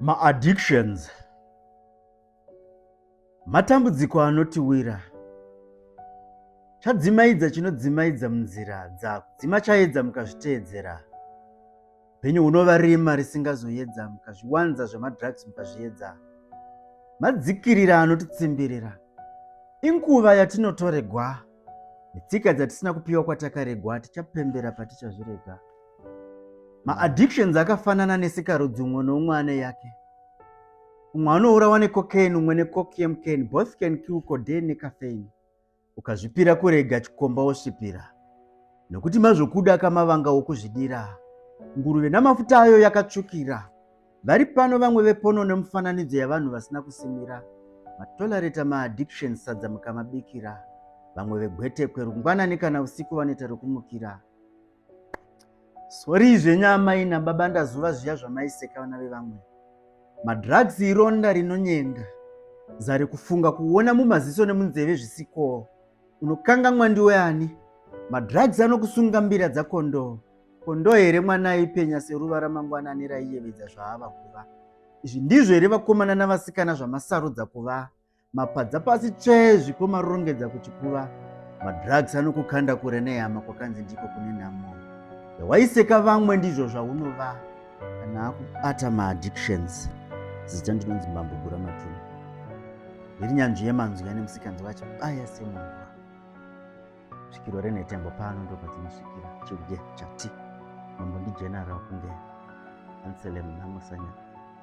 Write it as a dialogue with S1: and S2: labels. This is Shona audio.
S1: maaddictions matambudziko anotiwira chadzimaidza chinodzimaidza munzira dzako dzima chaedza mukazviteedzera Penyu unova rima risingazoyedza mukazviwanza zvemadrugs mukazviedza. Madzikirira anotitsimbirira. Inguva yatinotoregwa. Netsika dzatisina kupiwa kwatakaregwa tichapembera patichazvirega. Maaddictions akafanana nesikarudzi umwe noumwe ane yake. Umwe anourawa necocaine umwe necoc yemcane both can kill codeine necaffeine. ukazvipira kurega chikomba wosvipira nokuti mazvokuda kamavanga wokuzvidira nguruve namafuta ayo yakatsvukira vari pano vamwe vepono nemufananidzo yavanhu vasina kusimira matolareta maaddiction sadza mukamabikira vamwe vegwetekwe rungwanani kana usiku vanoita rokumukira Sorry zvenyu amai nababa ndazuva zviya zvamaiseka vana vevamwe. Madrugs ironda rinonyenga. Zari kufunga kuona mumaziso nemunzeve zvisikowo. Unokangamwa ndiwe ani? Madrugs anokusunga mbira dzakondoo. Kondoo here mwana aipenya seruva ramangwanani raiyevedza zvaava kuva. Izvi ndizvo here vakomana navasikana zvamasarudza kuva? Mapadza pasi tsvee zvikoma rongedza kuchikuva. Madrugs anokukanda kure nehama kwakanzi ndiko kune nhamo. Zvawaiseka vamwe ndizvo zvaunova kana akubata maaddictions. Zita ndinonzi Mbambo Gura Matuma. Ndiri nyanzvi yemanzwi ane musikanzi wacho baya semunhu svikiro renhetembo pano ndopadzinosvikira chiuge chati mambo ndijenara kunge anselem namusanya